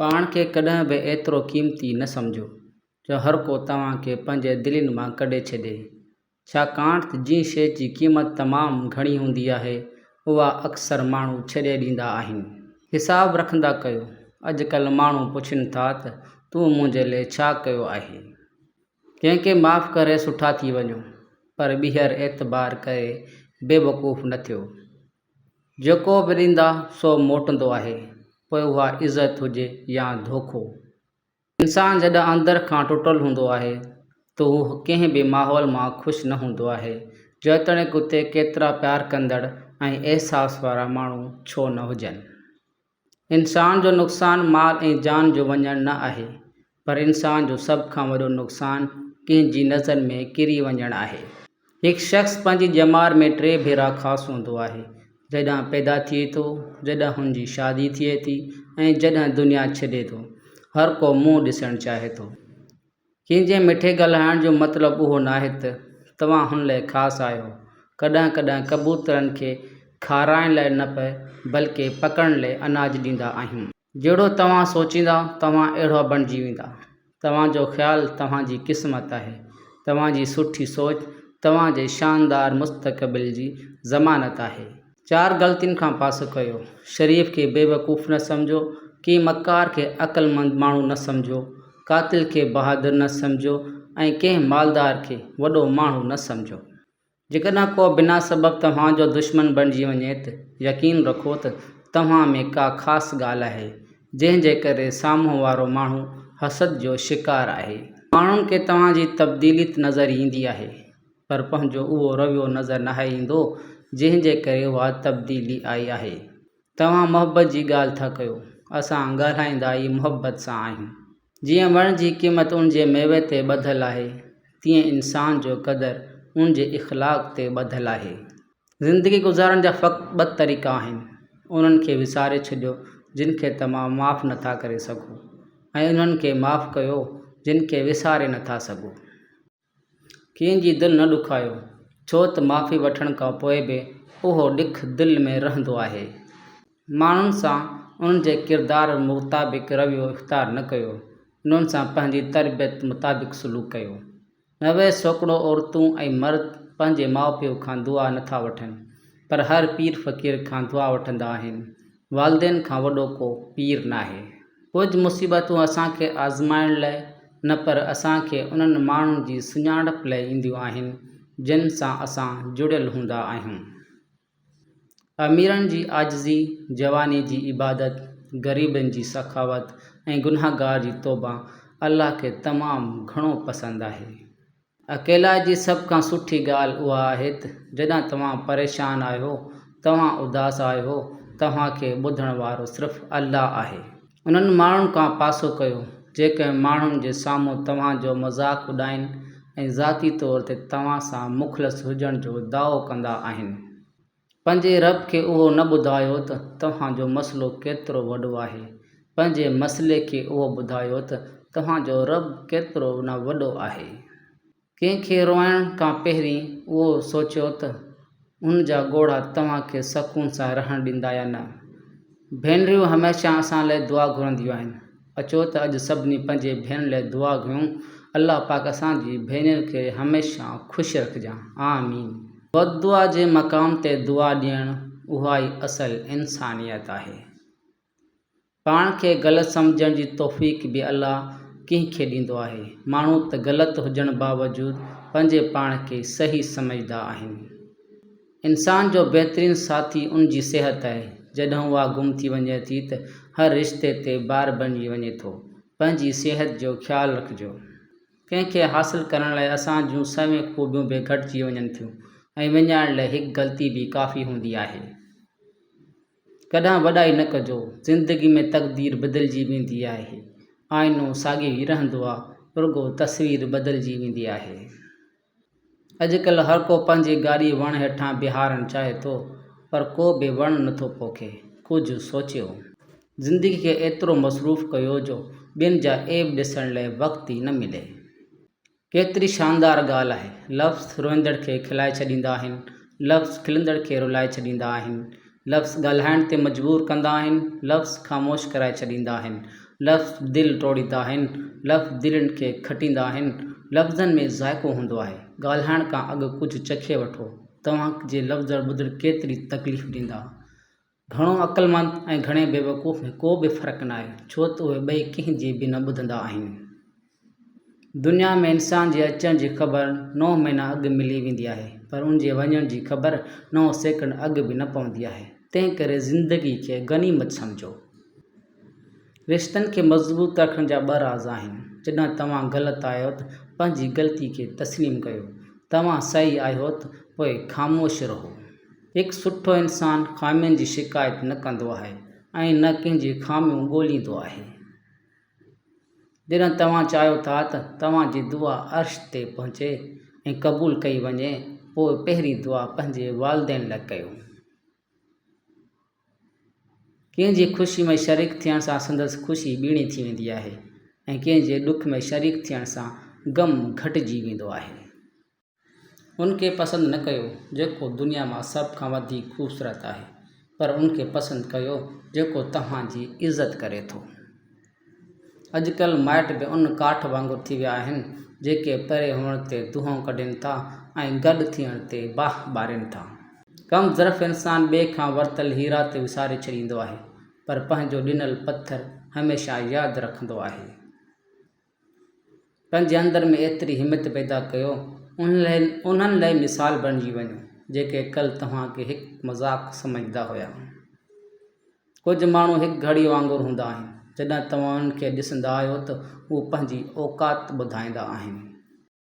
پاڻ کي ڪڏهن به ايترو قيمتي نه سمجهو جو هر ڪو توهان کي پنهنجي دلين مان ڪڍي ڇڏي، ڇاڪاڻ ته جنهن شيء جي قيمت تمام گهڻي هوندي آهي، اها اڪثر ماڻهو ڇڏي ڏيندا آهن. حساب رکندا ڪيو، اڄڪلهه ماڻهو پڇين ٿا ته تون منهنجي لئه ڇا ڪيو آهي؟ ڪنهن کي معاف ڪري سٺا ٿي وڃو، پر ٻيهر اعتبار ڪري بيوقوف نه ٿيو. جيڪو وريندا سو موٽندو آهي، پوء اها عزت هجي يا ڌوڪو. انسان جڏهن اندر کان ٽٽل هوندو آهي ته هو ڪنهن به ماحول مان خوش نه هوندو آهي، جيتوڻيڪ اتي ڪيترا پيار ڪندڙ ۽ احساس وارا ماڻهو ڇو نه هجن. انسان جو نقصان مال ۽ جان جو وڃڻ نه آهي، پر انسان جو سڀ کان وڏو نقصان ڪنهن جي نظر ۾ ڪري وڃڻ آهي. هڪ شخص پنهنجي ڄمار ۾ ٽي ڀيرا خاص هوندو آهي، جڏهن پيدا ٿئي ٿو، جڏهن هن جي شادي ٿئي ٿي ۽ جڏهن دنيا ڇڏي ٿو. هر ڪو منهن ڏسڻ چاهي ٿو. ڪنهن جي مٺي ڳالهائڻ جو مطلب اهو ناهي ته توهان هن لاء خاص آهيو. ڪڏهن ڪڏهن ڪبوترن کي کارائڻ لاء نه پئي بلڪه پڪڙڻ لاء اناج ڏيندا آهيون. جهڙو توهان سوچيندا توهان اهڙا بڻجي ويندا. توهان جو خيال توهان جي قسمت آهي. توهان جي سٺي سوچ توهان جي شاندار مستقبل جي ضمانت آهي. چار غلطين کان پاسو ڪيو. شريف کي بيوقوف نه سمجهو، ڪنهن مڪار کي عقلمند ماڻهو نه سمجهو، قاتل کي بهادر نه سمجهو ۽ ڪنهن مالدار کي وڏو ماڻهو نه سمجهو. جيڪڏهن ڪو بنا سبب توهان جو دشمن بڻجي وڃي ته يقين رکو ته توهان ۾ ڪا خاص ڳالهه آهي، جنهن جي ڪري سامهون وارو ماڻهو حسد جو شڪار آهي. ماڻهن کي توهان جي تبديلي نظر ايندي آهي. پر پنهنجو اهو رويو نظر ناهي ايندو، جنهن جي ڪري اها تبديلي آئي آهي. توهان محبت جي ڳالهه ٿا ڪيو، اسان ڳالهائيندا ئي محبت سان آهيون. جيئن وڻ جي قيمت ان جي ميوي تي ٻڌل آهي، تيئن انسان جو قدر ان جي اخلاق تي ٻڌل آهي. زندگي گذارڻ جا فقط ٻه طريقا آهن، انهن کي وساري ڇڏيو، جن کي توهان معاف نٿا ڪري سگهو، ۽ انهن کي معاف ڪيو، جن کي وساري نٿا سگهو. ڪنهن جي دل نه ڏکايو، ڇو ته معافي وٺڻ کان پوء به اهو ڏک دل ۾ رهندو آهي. ماڻهن سان انهن جي ڪردار مطابق رويو اختيار نه ڪيو، انهن سان پنهنجي تربيت مطابق سلوڪ ڪيو. نوي سوڪڙو عورتون ۽ مرد پنهنجي ماء پيء کان دعا نه ٿا وٺن، پر هر پير فقير کان دعا وٺندا آهن، والدين کان وڏو ڪو پير ناهي. ڪجهه مصيبتون اسان کي آزمائڻ لئه نه پر اسان کي انهن ماڻهن جي سڃاڻپ لئه اينديون آهن جن سان اسان جڙيل هوندا آهيون. اميرن جي عاجزي، جواني جي عبادت، غريبن جي سخاوت ۽ گنهگار جي توبه الله کي تمام گهڻو پسند آهي. اڪيلائي جي سڀ کان سٺي ڳالهه اها آهي ته جڏهن توهان پريشان آهيو، توهان اداس آهيو، توهان کي ٻڌڻ وارو صرف الله آهي. انهن ماڻهن کان پاسو ڪيو، جيڪي ماڻهن جي سامهون توهان جو مذاق اڏائين ۽ ذاتي طور تي توهان سان مخلص هجڻ جو دعوو ڪندا آهن. پنهنجي رب کي اهو نه ٻڌايو ته توهان جو مسئلو ڪيترو وڏو آهي، پنهنجي مسئلي کي اهو ٻڌايو ته توهان جو رب ڪيترو نه وڏو آهي. ڪنهن کي روئڻ کان پهرين اهو سوچيو ته هن جا ڳوڙها توهان کي سڪون سان رهڻ ڏيندا يا نه. ڀينريون هميشه اسان لاء دعا گهرنديون آهن. اچو ته اڄ سڀني پنهنجي ڀيڻ لاء دعا گهرون الله پاڪ اسان جي ڀينرين کي هميشه خوش رکجان آمين. بددعا جي مقام تي دعا ڏيڻ اها ئي اصل انسانيت آهي. پاڻ کي غلط سمجهڻ جي توفيق به الله ڪنهن کي ڏيندو آهي. ماڻهو ته غلط هجڻ باوجود پنهنجي پاڻ کي صحيح سمجهدا آهن. انسان جو بهترين ساٿي ان جي صحت آهي، جڏهن اها گم ٿي وڃي ٿي ته هر رشتي تي بار بڻجي وڃي ٿو، پنهنجي صحت جو خيال رکجو، ڪنهن کي حاصل ڪرڻ لاء اسان جون سوين خوبيون به گهٽجي وڃن ٿيون ۽ وڃائڻ لاء هڪ غلطي به ڪافي هوندي آهي. ڪڏهن وڏائي نه ڪجو، زندگي ۾ تقدير بدلجي ويندي آهي، آئينو ساڳيو ئي رهندو آهي، رڳو تصوير بدلجي ويندي آهي. اڄڪلهه هر ڪو پنهنجي گاڏي وڻ هيٺان بيهارڻ چاهي ٿو پر ڪو به وڻ نه ٿو پوکي. ڪجهه سوچيو. زندگي کي ايترو مصروف ڪيو جو ٻين جا عيب ڏسڻ لئه وقت ئي نه ملي. ڪيتري شاندار ڳالهه آهي. لفظ روئندڙ کي کلائي ڇڏيندا آهن، لفظ کلندڙ کي رلائي ڇڏيندا آهن. لفظ ڳالهائڻ تي مجبور ڪندا آهن، لفظ خاموش ڪرائي ڇڏيندا آهن، لفظ دل ٽوڙيندا آهن، لفظ دلين کي کٽيندا آهن، لفظن ۾ ذائقو هوندو آهي، ڳالهائڻ کان اڳ ڪجهه چکي وٺو، توهان جي لفظ ٻڌڻ ڪيتري تڪليف ڏيندا. گهڻو عقلمند ۽ گهڻي بيوقوف ۾ ڪو به فرق ناهي، ڇو ته اهي ٻئي ڪنهن جي به نه ٻڌندا آهن. دنيا ۾ انسان جي اچڻ جي خبر نو مهينا اڳ ملي ويندي آهي پر ان جي وڃڻ جي خبر نو سيڪنڊ اڳ به نه پوندي آهي. تنهن ڪري زندگي کي غنيمت سمجهو. رشتن کي مضبوط رکڻ جا ٻه راز آهن. جڏهن توهان غلط آهيو ته پنهنجي غلطي کي تسليم ڪيو. توهان صحيح آهيو ته پوء خاموش رهو. هڪ سٺو انسان خامين جي شڪايت نه ڪندو آهي ۽ نه ڪنهن جي خاميون ڳوليندو آهي. جڏهن توهان چاهيو ٿا ته توهان جي دعا عرش تي پهچي ۽ قبول ڪئي وڃي، پوء پهرين دعا پنهنجي والدين لاء ڪيو. ڪنهن جي خوشي ۾ شريڪ ٿيڻ سان سندس خوشي ٻيڻي ٿي ويندي آهي ۽ ڪنهن جي ڏک ۾ شريڪ ٿيڻ سان غم گهٽجي ويندو آهي. ان کي پسند نه ڪيو جيڪو دنيا مان سڀ کان وڌيڪ خوبصورت آهي پر ان کي پسند ڪيو جيڪو توهان جي عزت ڪري ٿو. اڄڪلهه مائٽ به ان ڪاٺ وانگر ٿي ويا آهن جيڪي پري هئڻ تي دونهون ڪڍين ٿا ۽ گڏ ٿيڻ تي باھ ٻارين ٿا. ڪم ظرف انسان ٻئي کان ورتل هيرا ته وساري ڇڏيندو آهي پر پنهنجو ڏنل پٿر هميشه ياد رکندو آهي. پنهنجي اندر ۾ ايتري همت پيدا ڪيو انهن لاء مثال بڻجي وڃو جيڪي ڪل توهان کي هڪ مذاق سمجهندا هيا. ڪجهه ماڻهو هڪ گهڙي وانگر هوندا آهن جڏهن توهان انهن کي ڏسندا آهيو ته هو پنهنجي اوقات ٻڌائيندا آهن.